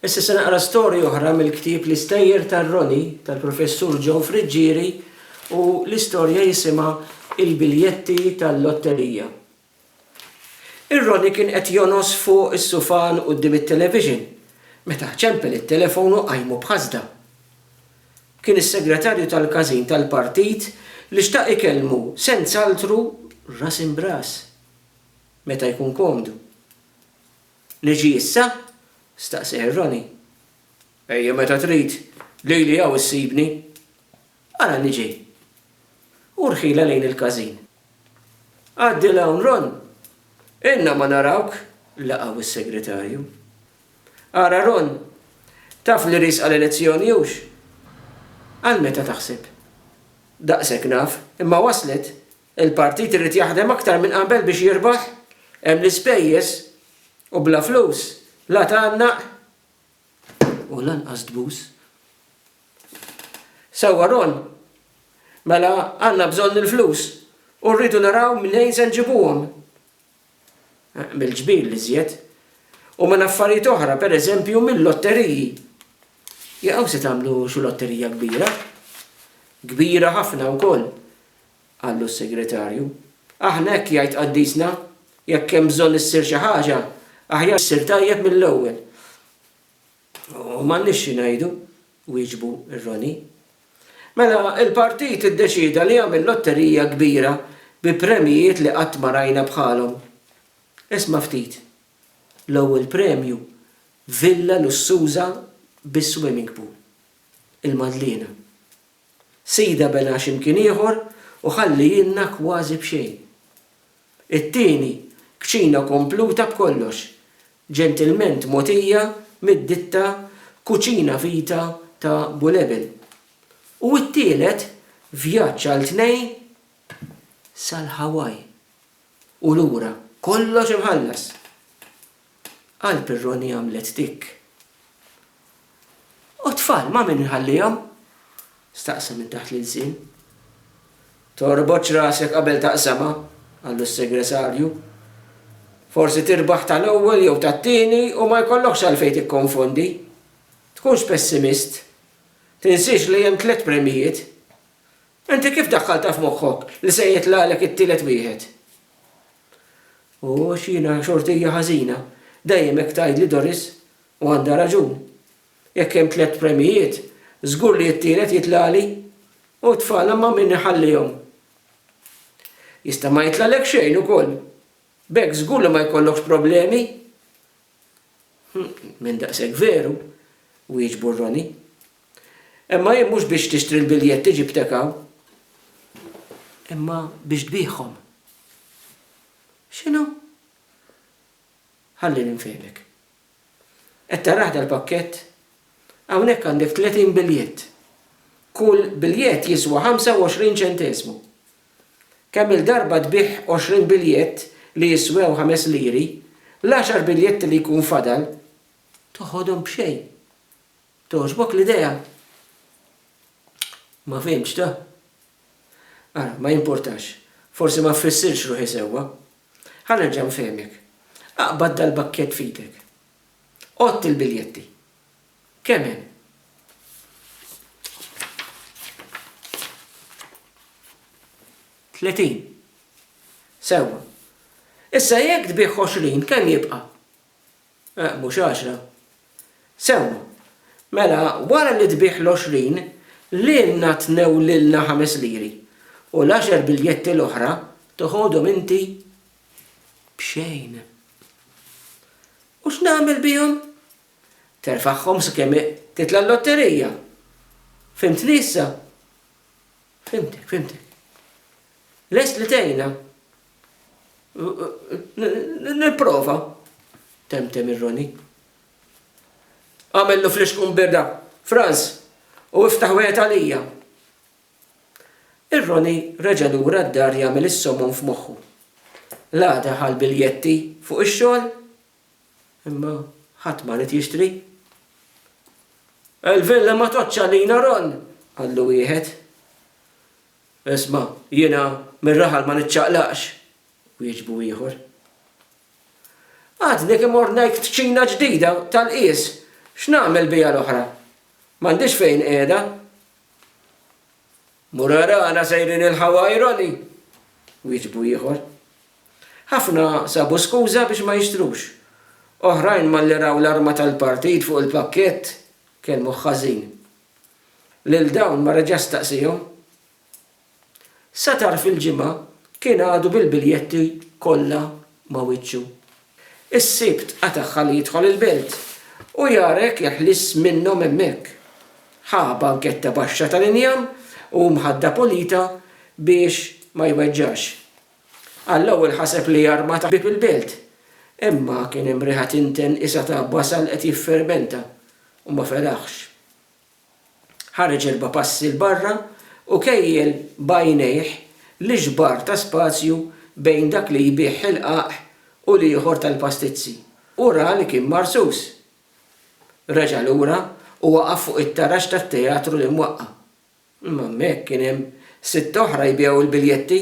Issa se naqra storja oħra mill-ktieb L-Istejjer tar-Roni tal-Professur John Friggieri u l-istorja jisimha Il-Biljetti tal-Lotterija. Ir-Roni kien qed jonos fuq is-sufan quddiem it-television meta ċempel it-telefon u qajmu b'ħasda. Kien is-segretarju tal-każin tal-partit li xtaq ikellmu senz'altru ras imb'ras meta jkun komdu. Niġi issa? staqseh ir-Roni. Ejja meta trid, lili hawn issibni. Ara niġi. U rħilha lejn il-każin. Għaddi 'l hawn Ron, ilna ma narawk, laqgħu s-Segretarju. Ara Ron, taf li riesqa l-elezzjoni hux? Għal meta taħseb? Daqshekk naf, imma waslet? Il-partit irid jaħdem aktar minn qabel biex jirbaħ, hemm l-ispejjeż u bla flus la tgħannaq u lanqas tbus. Sewwa Ron, mela għandna bżonn il-flus u rridu naraw mnejn se nġibuhom. Mill-ġbir l-iżjed u minn affarijiet oħra, pereżempju mil-lotteriji. Jaqgħu se tagħmlu xi lotterija kbira. Kbira ħafna wkoll. Qallu s-Segretarju, Aħna hekk jgħid Qaddisna, jekk hemm bżonn issir xi ħaġa, aħjar issir tajjeb mill-ewwel. U m'għandniex xi ngħidu, wieġbu r-Roni. Mela, il-Partit iddeċieda li jagħmel lotterija kbira bi premjijiet li qatt ma rajna bħalhom. Isma' ftit. L-ewwel premju, villa lussuża bi swimming pool. Il-Madliena. Sida bena xi mkien ieħor u ħallihielna kważi b'xejn. It-tieni, kċina kompluta b'kollox, ġentilment mogħtija mid-ditta Cucina Vita ta' Bulebel. U t-tielet, vjaġġ għal tnejn sal-Hawaii u lura, kollox imħallas! Qalb ir-Roni għamlet tikk. U t-tfal ma' min inħallihom? staqsa minn taħt l-ilsien. Torbotx rasek qabel taqsamha, qallu s-Segretarju. Forsi tirbaħ tal-ewwel jew tat-tieni u ma jkollokx għalfejn tikkonfondi. Tkunx pessimist. Tinsiex li hemm tliet premjijiet. Inti kif daħħaltha f'moħħok li se jitlagħlek it-tielet wieħed? Ooh għax jiena xortija ħażina. Dejjem hekk tgħidli Doris, u għandha raġun. Jekk hemm tliet premjijiet, żgur li t-tielet jitlagħli. U t-tfal imma min iħallihom? Jista' ma jitlagħlek xejn ukoll. B'hekk żgur li ma jkollokx problemi. Minn daqshekk veru, wieġbu Ronnie. Imma jien mhux biex tixtri l-biljetti ġibtek hawn. Imma biex tbiegħhom. X'inhu? Ħallini nfehmek. Qed tarah dal-pakkett? Hawnhekk għandek tletin biljett. Kull biljett jiswa ħamsa u għoxrin ċenteżmu. Kemm-il darba tbigħ għoxrin biljett li jiswew ħames liri, l-għaxar biljetti li jkun fadal toħodhom b'xejn. Togħġbok l-idea? Ma fhimtx da? Ara, ma jimpurtax, forsi ma ffissirtx ruħi sewwa. Ħa nerġa' nfehmek. Aqbad dal-bakkett f'idek. Għodd il-biljetti. Kemm hemm? Tletin. Sewwa. Issa jekk tbigħ 20 kemm jibqa'? Eh, mhux għaxra. Sewwa. Mela wara li tbigħ l-20 lilna tnew lilna ħames liri u l-għaxar biljetti l-oħra toħodhom inti b'xejn. U x'nagħmel bihom? Terfagħhom sakemm titla' l-lotterija. Fhimtni issa? Fhimtek, fhimtek. Lest li tgħinna? Nipprova, temtem ir-Roni. Għamillu flixkun birda, Franz, u iftaħ wieħed għalija. Ir-Roni reġa' lura d-dar jagħmel is-somon f'moħħu. L-għada ħa l-biljetti fuq ix-xogħol Imma ħadd ma ried jixtri. Il-villa ma tgħoddx għalina, Ron, qallu wieħed. Isma', jiena mir-raħal ma niċċaqlaqx, wieġbu ieħor. Għadni kemm ordnajt kċina ġdida tal-qies, x'nagħmel biha l-oħra? M'għandix fejn qiegħda. Mura rana sejrin il-ħawajroni! wieġbu ieħor. Ħafna sabu skuża biex ma jixtrux. Oħrajn malli raw l-arma tal-partit fuq il-pakkett, kellmuh ħażin. Lil dawn ma reġax staqsihom. Sa tarf il-Ġimgħa kien għadu bil-biljetti kollha ma' wiċċu. Is-Sibt qatagħha li jidħol il-belt, u jara jekk jeħlis minnhom hemmhekk. Ħa banketta baxxa tal-injam u mħadda pulita biex ma jweġġax. Għall-ewwel ħaseb li jarma ta' bieb il-belt, imma kien hemm riħa tinten qisha ta' basal qed jiffermenta, u ma feraħx. Ħareġ erba' passi 'l barra u kejjel b'għajnejh l-ixbar ta' spazju bejn dak li jbigħ ħilqaq u l-ieħor tal-pastizzi u ra li kien marsus. Reġa' lura u waqaf fuq it-taraġ tat-teatru li mwaqqa'. Imma hemmhekk kien hemm sitta oħra jbigħu l-biljetti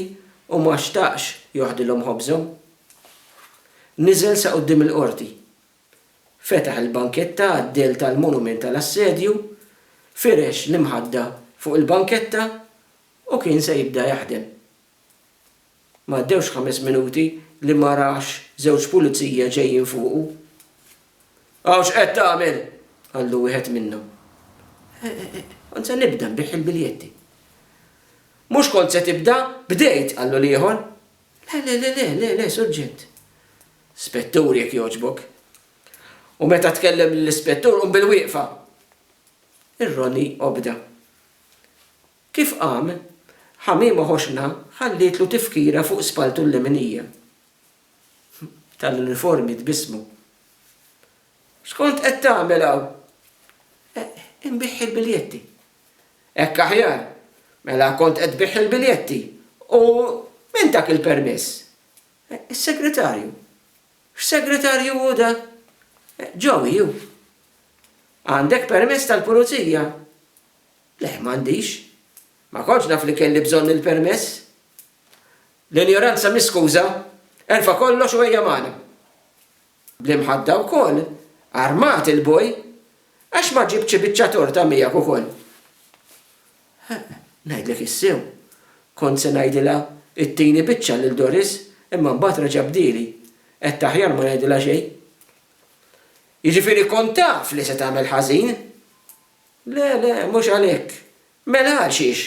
u ma xtaqx joħdilhom ħobżhom. Niżel sa quddiem il-qorti Fetaħ il-banketta għad-dell tal-monument tal-assedju, firex l-imħadda fuq il-banketta u kien se jibda jaħdem. Ma għaddewx ħames minuti li ma rax żewġ pulizija ġejjin fuqu. Hawn x'qed tagħmel? qallu wieħed minnhom. Kont se nibda nbigħ il-biljetti. Mhux kont se tibda, bdejt, qallu l-ieħor. Le, le, le, le, le, le, Surġent. Spettur, jekk jogħġbok. U meta tkellem lill-Ispettur qum bilwieqfa. Ir-Roni obda. Kif qam, Ħamiema Ħoxna ħallietlu tifkira fuq spalltu l-leminija. Tal-uniformi tbissmu. X'kont qed tagħmel hawn? Inbigħ il-biljetti. Hekk aħjar. Mela kont qed tbigħ il-biljetti u min tak il-permess? Is-segretarju. X'segretarju hu da? Joey hu. Għandek permess tal-pulizija? Le, m'għandix. Ma kontx naf li kelli bżonn il-permess. L-injoranza mhi skuża. Erfa' kollox u ejja magħna. Bl-imħadda wkoll, armat il-boj, għax ma ġibtx ibiċċa torta miegħek ukoll? Eħ, ngħidlek is-sew, kont se ngħidilha ittini biċċa lil Doris imma mbagħad reġa' bdieli, għedt aħjar ma ngħidilha xejn. Jiġifieri kont taf li se tagħmel ħażin? Le, le, mhux għalhekk. Mela għalxiex?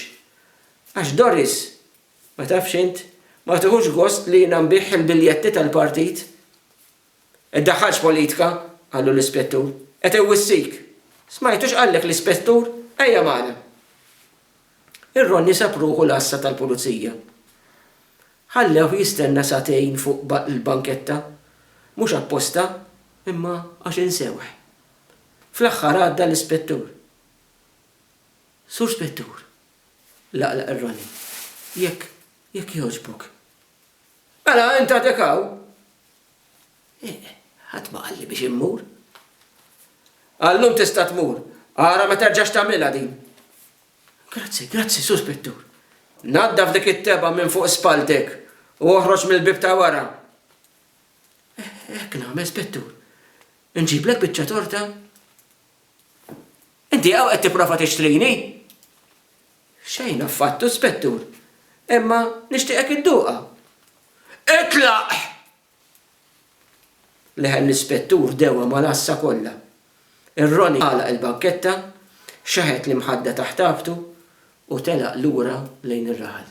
Għax Doris Ma tafx int? Ma tieħux gost li jiena nbigħ il-biljetti tal-partit? Iddaħħalx politika, qallu l-ispettur. Qed iwissik. Smajtu x'qallek l-ispettur? Ejja magħna. Ir-Ronni sab ruħu l-għassa tal-pulizija. Ħallewh jistenna sagħtejn fuq il-banketta. Mhux apposta, imma għax insewh. Fl-aħħar għadda l-ispettur. Sur Spettur, Laqlaq ir-roni. Jekk, jekk jogħġbok. Mela, int għadek hawn? Eh, ħadd ma qalli biex immur. Għallum tista' tmur. Ara ma terġax tagħmilha din. Grazzi, grazzi, Sur Spettur. Naddaf dik it-teba minn fuq spalltek u oħroġ mill-bib ta' wara. Hekk nagħmel, Spettur. Inġiblek biċċa torta? Inti hawn qed tipprova tixtrini? Xejn affattu, Spettur, imma nixtieqek idduqha. Itlaq! Leħen l-Ispettur dewwa mal-għassa kollha. Ir-Roni għalaq il-banketta, xeħet l-imħadda taħt raqbtu u telaq lura lejn ir-raħal.